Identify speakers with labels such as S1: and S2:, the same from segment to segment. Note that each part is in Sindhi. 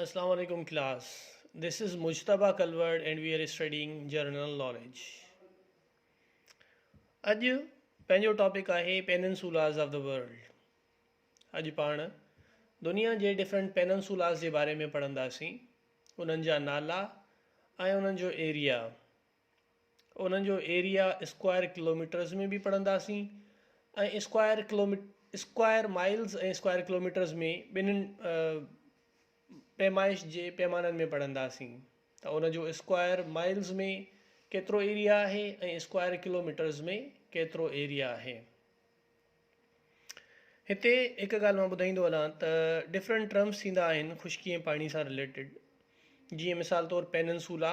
S1: اسلام عليڪم class this is Mujtaba Kalhoro and we are studying general knowledge اڄ پنهنجو ٽاپڪ آهي پيننسولاز آف د ورلڊ اڄ پاڻ دنيا جي ڊفرنٽ پيننسولاز جي باري ۾ پڙهنداسين انهن جا نالا ۽ انهن جو ايريا انهن جو ايريا اسڪوائر ڪلوميٽرز ۾ به پڙهنداسين ۽ اسڪوائر ڪلومي اسڪوائر مائلز ۽ اسڪوائر ڪلوميٽرز ۾ ٻنهن پيمائش جي پيمانن ۾ پڙهنداسين ته ان جو اسڪوائر مائلز ۾ ڪيترو ايريا آهي ۽ اسڪوائر ڪلوميٽرز ۾ ڪيترو ايريا آهي هتي هڪ ڳالهه مان ٻڌائيندو هلان ته ڊفرنٽ ٽرمس ٿيندا آهن خشڪي ۽ پاڻي سان رليٽيڊ جيئن مثال طور پيننسولا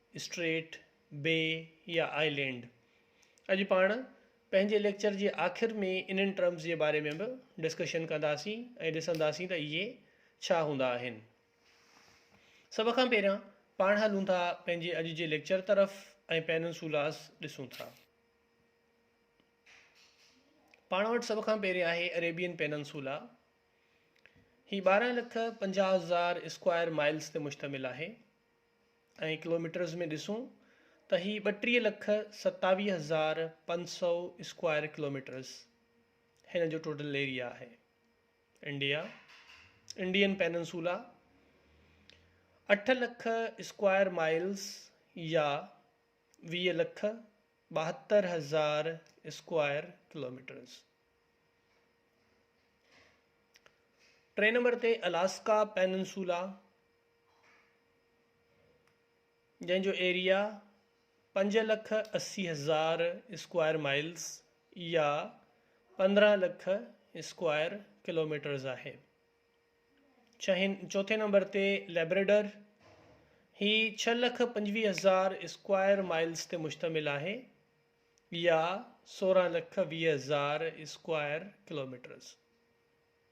S1: اسٽريٽ، بي يا آئي لينڊ. اڄ پاڻ پنهنجي ليڪچر جي آخر ۾ انهن ٽرمز جي باري ۾ به ڊسڪشن ڪنداسين ۽ ڏسنداسين ته اهي ڇا هوندا آهن. سڀ کان پهريان پاڻ هلون ٿا پنهنجي اڄ جي ليڪچر طرف ۽ پيننسولاز ڏسون ٿا. پاڻ وٽ سڀ کان پهرين آهي اريبين پيننسولا. هي ٻارهن لک پنجاهه هزار اسڪوائر مائلز تي مشتمل آهي. ۽ ڪلوميٽرز ۾ ڏسون ته هي ٻٽيهه لک ستاويهه هزار پنج سؤ اسڪوائر ڪلوميٽرز هن جو ٽوٽل ايريا آهي انڊيا انڊين پيننسولا اٺ لک اسڪوائر مائلز يا ويهه لک ٻاهتر هزار اسڪوائر ڪلوميٽرز ٽئين نمبر تي الاسڪا پيننسولا جنهن جو ايريا پنج لک اسي هزار اسڪوائر مائلز يا پندرهن لک اسڪوائر ڪلوميٽرز آهي. ڇهين چوٿين نمبر تي ليبريڊر هي ڇهه لک پنجويهه هزار اسڪوائر مائلز تي مشتمل آهي يا سورهن لک ويهه هزار اسڪوائر ڪلوميٽرز.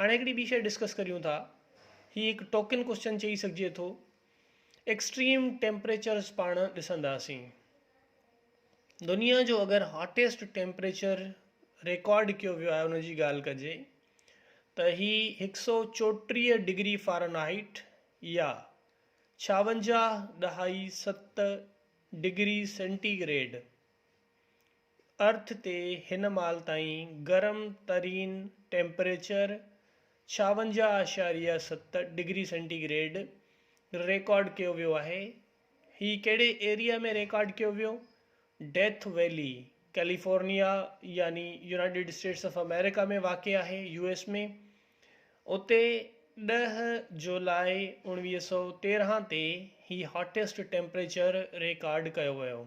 S1: هاڻي هڪڙي ٻي شئي ڊسڪس ڪريون ٿا. هي هڪ ٽوڪن ڪوسچن چئي سگهجي ٿو. ايڪسٽريم ٽيمپريچرز پاڻ ڏسنداسين. دنيا جو اگر هاٽيسٽ ٽيمپريچر ريڪارڊ ڪيو ويو آهي ان جي ڳالهه ڪجي ته هي هڪ سؤ چوٽيهه ڊگري فارنهائيٽ يا ڇاونجاهه ڏهائي ست ڊگري سينٽي گريڊ ارٿ تي هن مال تائين گرم ترين ٽيمپريچر ڇاونجاهه اعشاريه ست ڊگري سينٽي گريڊ ريڪارڊ ڪيو ويو آهي. هي ڪهڙي ايريا ۾ ريڪارڊ ڪيو ويو؟ ڊيٿ ويلي ڪيليفورنيا يعني يونائيٽيڊ اسٽيٽس آف آمريڪا ۾ واقع آهي، يو ايس ۾. اتي ڏهه جولاء اوڻويهه سؤ تيرنهن تي هي هاٽيسٽ ٽيمپريچر ريڪارڊ ڪيو ويو.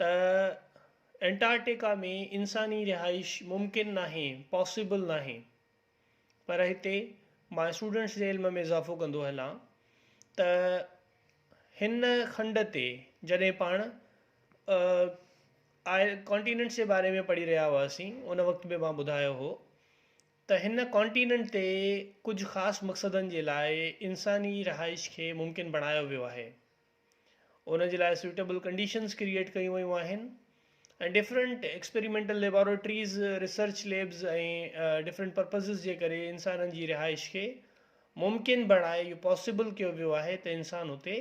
S1: ته انٽارڪٽيڪا ۾ انساني رهائش ممڪن ناهي، Possible ناهي، پر هتي مان اسٽوڊنٽس جي علم ۾ اضافو ڪندو هلان ته هن کنڊ تي جڏهن پاڻ آء ڪانٽيننٽس جي باري ۾ پڙهي رهيا هئاسين ان وقت به مان ٻڌايو هو ته هن ڪانٽيننٽ تي ڪجهه خاص مقصدن جي لاء انساني رهائش کي ممڪن بڻايو ويو آهي ان جي لاء سوٽيبل ڪنڊيشنز ڪريئيٽ ڪيون ويون آهن ۽ different experimental laboratories research labs ۽ different purposes جي ڪري انسانن جي رهائش کي ممڪن بڻائي اهو پاسيبل ڪيو ويو آهي ته انسان اتي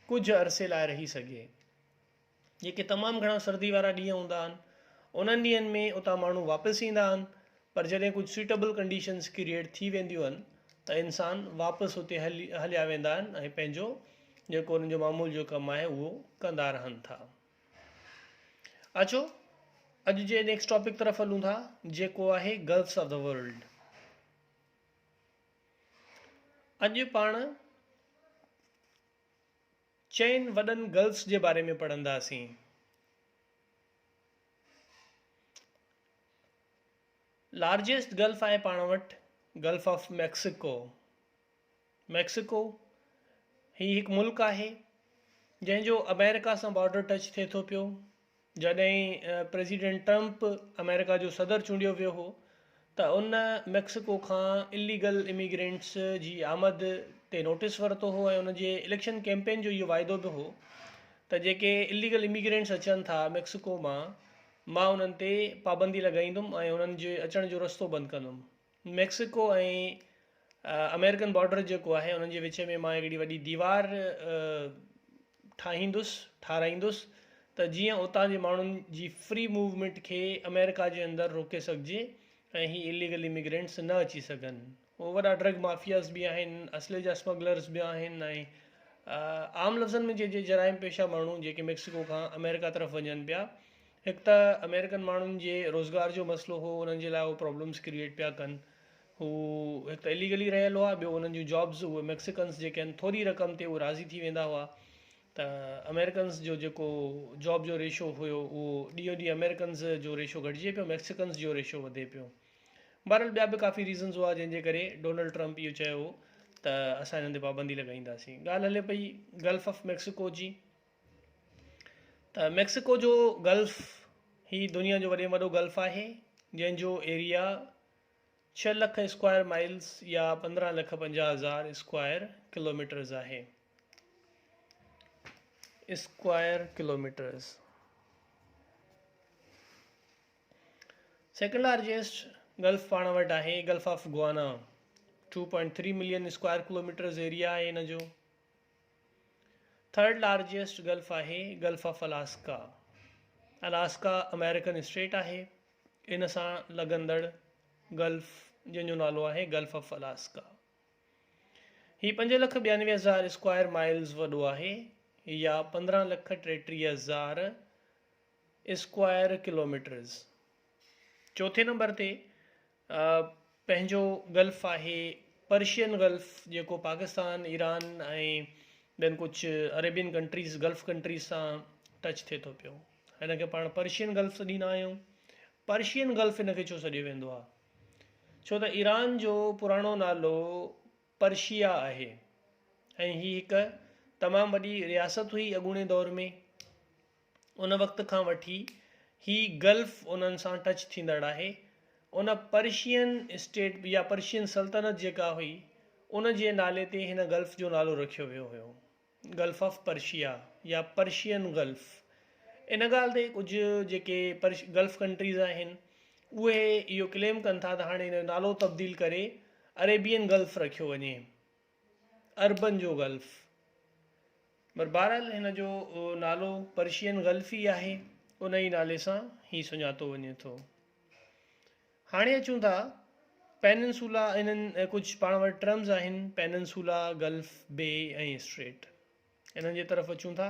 S1: ڪجهه عرصي لاء رهي سگهي جيڪي تمام گهڻا سردي وارا ڏينهن هوندا آهن انهن ڏينهن ۾ اتان ماڻهو واپس ايندا آهن پر جڏهن ڪجهه سوٽيبل ڪنڊيشنز ڪريئيٽ ٿي وينديون آهن ته انسان واپس اتي هلي هليا ويندا آهن ۽ پنهنجو جيڪو انهن جو معمول جو ڪم آهي اهو ڪندا رهن ٿا اچو اڄ جي نيڪسٽ ٽاپڪ طرف هلون ٿا جيڪو آهي گلفس آف دا ورلڊ اڄ پاڻ چئن وڏن گلس جي باري ۾ پڙهنداسين. لارجيسٽ گلف آهي پاڻ وٽ گلف آف ميڪسيڪو. ميڪسيڪو هي هڪ ملڪ آهي جنهن جو امريڪا سان بارڊر ٽچ ٿئي ٿو پيو. جڏهن پريزيڊنٽ ٽرمپ آمريڪا جو صدر چونڊيو ويو هو ته ان ميڪسيڪو کان اليگل اميگرينٽس جي آمد تي نوٽيس ورتو هو ۽ ان جي اليڪشن ڪيمپين جو اهو واعدو به هو ته جيڪي اليگل اميگرينٽس اچن ٿا ميڪسيڪو مان مان انهن تي پابندي لڳائيندم ۽ انهن جي اچڻ جو رستو بند ڪندم ميڪسيڪو ۽ آمريڪن بارڊر جيڪو آهي انهن جي وچ ۾ مان هڪڙي وڏي ديوار ٺاهيندس ٺاهرائيندس ته جيئن اتان جي ماڻهن جي فري موومينٽ کي آمريڪا جي اندر روڪي سگهجي ۽ هي اليگل اميگرينٽس نه اچي سگهن هو وڏا ڊرگ مافياز به آهن اسلحي جا اسمگلرز به آهن ۽ عام لفظن ۾ چئجي جرائم پيشه ماڻهو جيڪي ميڪسيڪو کان آمريڪا طرف وڃن پيا هڪ ته آمريڪن ماڻهن جي روزگار جو مسئلو هو انهن جي لاء هو پرابلمس ڪريئيٽ پيا ڪن هو هڪ ته اليگلي رهيل هئا ٻيو انهن جون جابس اهي ميڪسيڪنس جيڪي آهن ٿوري رقم تي اهي راضي ٿي ويندا هئا ته آمريڪنس جو جيڪو جاب جو ريشو هيو اهو ڏينهون ڏينهن آمريڪنس جو ريشو گهٽجي پيو ميڪسيڪنس جو ريشو وڌي پيو بهرحال ٻيا به ڪافي ريزنس هئا جنهن جي ڪري ڊونلڊ ٽرمپ اهو چيو هو ته اسان هنن تي پابندي لڳائينداسين ڳالهه هلي پئي گلف آف ميڪسيڪو جي ته ميڪسيڪو جو گلف هي دنيا جو وڏي ۾ وڏو گلف آهي جنهن جو ايريا ڇهه لک اسڪوائر مائلز يا پندرهن لک پنجاهه هزار اسڪوائر ڪلوميٽرز آهي square kilometres second largest gulf پاڻ وٽ آهي gulf of Guinea two point three million square kilometres area آهي هن جو ٿرڊ لارجيسٽ گلف آهي gulf of Alaska. Alaska American state آهي. ان سان لڳندڙ گلف جنهن جو نالو آهي گلف آف الاسڪا. هي پنج لک ٻيانوي هزار اسڪوائر مائلز وڏو آهي يا پندرهن لک ٽيٽيهه هزار اسڪوائر ڪلوميٽرز. چوٿين نمبر تي پنهنجو گلف آهي پرشين گلف جيڪو پاڪستان ايران ۽ ٻين ڪجهه عريبين ڪنٽريز گلف ڪنٽريز سان ٽچ ٿئي ٿو پيو هن کي پاڻ پرشين گلف سڏيندا آهيون پرشين گلف هن کي ڇو سڏيو ويندو آهي ڇو ته ايران جو پراڻو نالو پرشيا آهي ۽ هي هڪ تمام وڏي رياست هئي اڳوڻي دور ۾ ان وقت کان وٺي هي گلف انهن سان ٽچ ٿيندڙ آهي. ان پرشين اسٽيٽ يا پرشين سلطنت جيڪا هئي ان جي نالي تي هن گلف جو نالو رکيو ويو هيو گلف آف پرشيا يا پرشين گلف. ان ڳالهه تي ڪجهه جيڪي گلف ڪنٽريز آهن اهي اهو ڪليم ڪن ٿا ته هاڻي ان جو نالو تبديل ڪري اريبين گلف رکيو وڃي. عربن جو غلف پر بهرحال هن جو نالو پرشين غلف ئي آهي ان ئي نالي سان هي سڃاتو وڃي ٿو هاڻي اچون ٿا پيننسولا انهن ڪجهه پاڻ وٽ ٽرمز آهن پيننسولا غلف بي ۽ اسٽريٽ انهن جي طرف اچون ٿا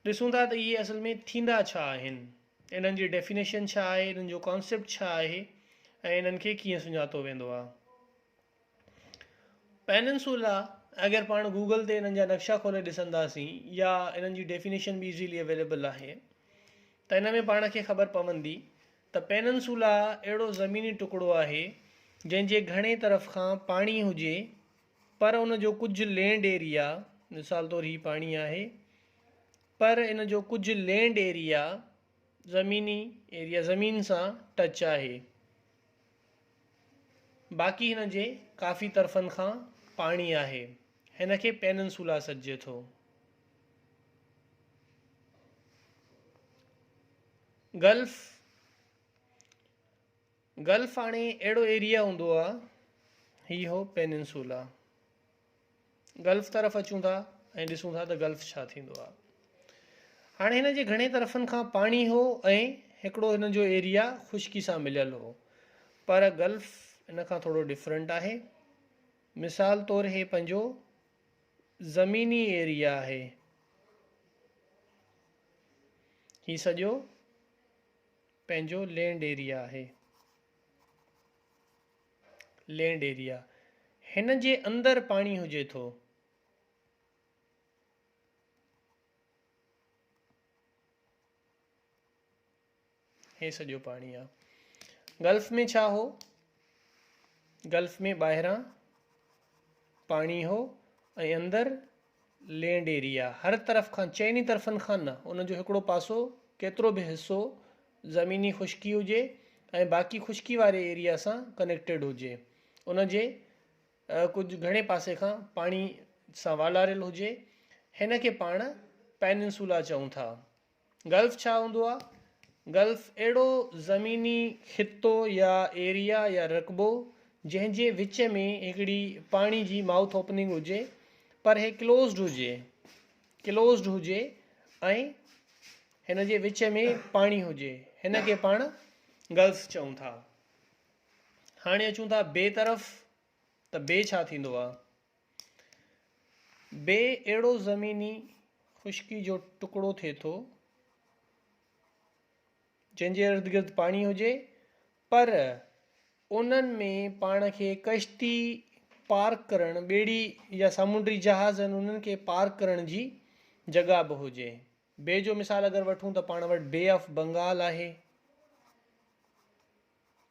S1: ڏسون ٿا ته اهي اصل ۾ ٿيندا ڇا آهن انهن جي ڊيفينيشن ڇا آهي انهن جو ڪانسيپٽ ڇا آهي ۽ انهن کي ڪيئن سڃاتو ويندو آهي پيننسولا اگر پاڻ گوگل تي انهن جا نقشا کولي ڏسنداسين يا انهن جي ڊيفينيشن به ايزيلي اويليبل آهي ته ان ۾ پاڻ کي خبر پوندي ته پيننسولا اهڙو زميني ٽڪڙو آهي جنهن جي گهڻي طرف کان پاڻي هجي پر ان جو ڪجهه لينڊ ايريا مثال طور هي پاڻي آهي پر ان جو ڪجهه لينڊ ايريا زميني ايريا زمين سان ٽچ آهي باقي هن جي ڪافي طرفن کان پاڻي آهي. هن کي پيننسولا سڏجي ٿو. گلف، Gulf، هاڻي اهڙو ايريا هوندو آهي. هي هو پيننسولا. گلف طرف اچون ٿا ۽ ڏسون ٿا ته گلف ڇا ٿيندو آهي هاڻي هن جي گهڻي طرفن کان پاڻي هو ۽ هڪڙو هن جو ايريا خشڪي سان مليل هو پر گلف ان کان ٿورو ڊفرنٽ آهي مثال طور هي پنهنجو زميني ايريا آهي هي سڄو پنهنجو لينڊ ايريا آهي لينڊ ايريا، هن جي اندر پاڻي هجي ٿو. هي سڄو پاڻي آ. گلف ۾ ڇا هو؟ گلف ۾ ٻاهران پاڻي هو ۽ اندر لينڊ ايريا هر طرف کان چئني طرفن کان نه ان جو هڪڙو پاسو ڪيترو به حصو زميني خشڪي هجي ۽ باقي خشڪي واري ايريا سان ڪنيڪٽيڊ هجي ان جي ڪجهه گهڻي پاسي کان پاڻي سان والاريل هجي هن کي پاڻ پيننسولا چئون ٿا گلف ڇا هوندو آهي؟ گلف اهڙو زميني خطو يا ايريا يا رقبو جنهن جي وچ ۾ هڪڙي پاڻي جي مائوٿ اوپننگ هجي پر هي ڪلوزڊ هجي Closed هجي ۽ هن جي وچ ۾ پاڻي هجي هن کي پاڻ گلف چئون ٿا هاڻي اچون ٿا بي طرف ته بي ڇا ٿيندو آهي بي اهڙو زميني خشڪي جو ٽڪڙو ٿئي ٿو جنهن جي ارد گرد پاڻي هجي پر انهن ۾ پاڻ کي ڪشتي پار ڪرڻ ٻيڙي يا سامونڊي جهاز آهن انهن کي پار ڪرڻ جي جڳا به هجي بي جو مثال اگر وٺون ته پاڻ وٽ بي آف بنگال آهي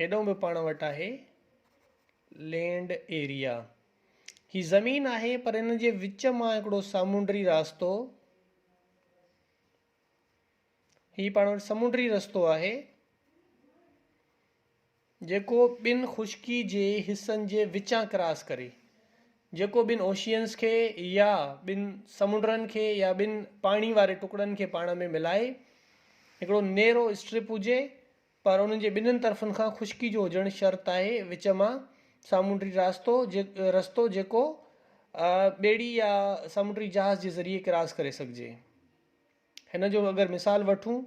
S1: هيڏو به پاڻ وٽ آهي لينڊ ايريا. هي زمين آهي پر ان جي وچ مان هڪڙو سامونڊري راستو هي پاڻ وٽ سمونڊري رستو آهي. جيڪو ٻن خشڪي جي حصن جي وچان ڪراس ڪري، جيڪو ٻن اوشيئنز کي يا ٻن سمنڊن کي يا ٻن پاڻي واري ٽڪڙن کي پاڻ ۾ ملائي هڪڙو نيرو اسٽرپ هجي پر انهن جي ٻنهن طرفن کان خشڪي جو هجڻ شرط آهي وچ مان سامونڊي راستو رستو جيڪو ٻيڙي يا سامونڊي جهاز جي ذريعي ڪراس ڪري سگهجي هن جو اگر مثال وٺون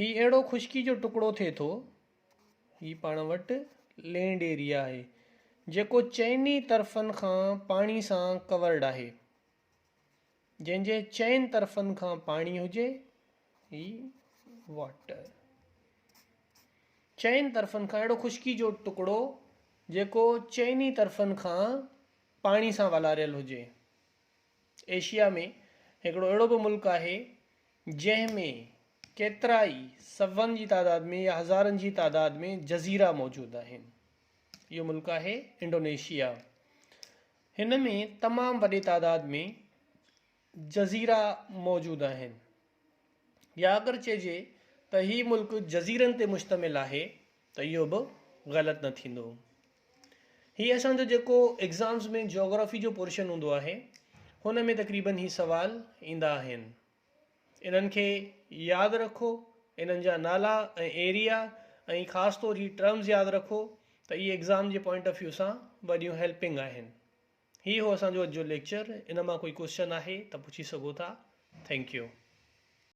S1: هي اهڙو خشڪي جو ٽڪڙو ٿئي ٿو. هي پاڻ وٽ لينڊ ايريا آهي جيڪو چئني طرفن کان پاڻي سان ڪورڊ آهي. جنهن جي چئن طرفن کان پاڻي هجي هي واٽر چئن طرفن کان اهڙو خشڪي جو ٽڪڙو جيڪو چئني طرفن کان پاڻي سان والاريل هجي. ايشيا ۾ هڪڙو اهڙو به ملڪ آهي جنهن ۾ ڪيترائي سون جي تعداد ۾ يا هزارن جي تعداد ۾ جزيرا موجود آهن اهو ملڪ آهي انڊونيشيا هن ۾ تمام وڏي تعداد ۾ جزيرا موجود آهن يا اگر چئجي ته هي ملڪ جزيرن تي مشتمل آهي ته اهو به غلط نه ٿيندو هي اسان جو جيڪو ايگزامز ۾ جيوگرافي جو پورشن هوندو آهي هن ۾ تقريبن هي سوال ايندا آهن انهن کي ياد رکو انهن جا نالا ۽ ايريا ۽ خاص طور هي ٽرمز ياد رکو ته اهي ايگزام جي پوائنٽ آف ويو سان وڏيون هيلپنگ آهن هي هو اسان جو اڄ جو ليڪچر ان مان ڪوئي ڪوسچن آهي ته پڇي سگهو ٿا ٿينڪ يو.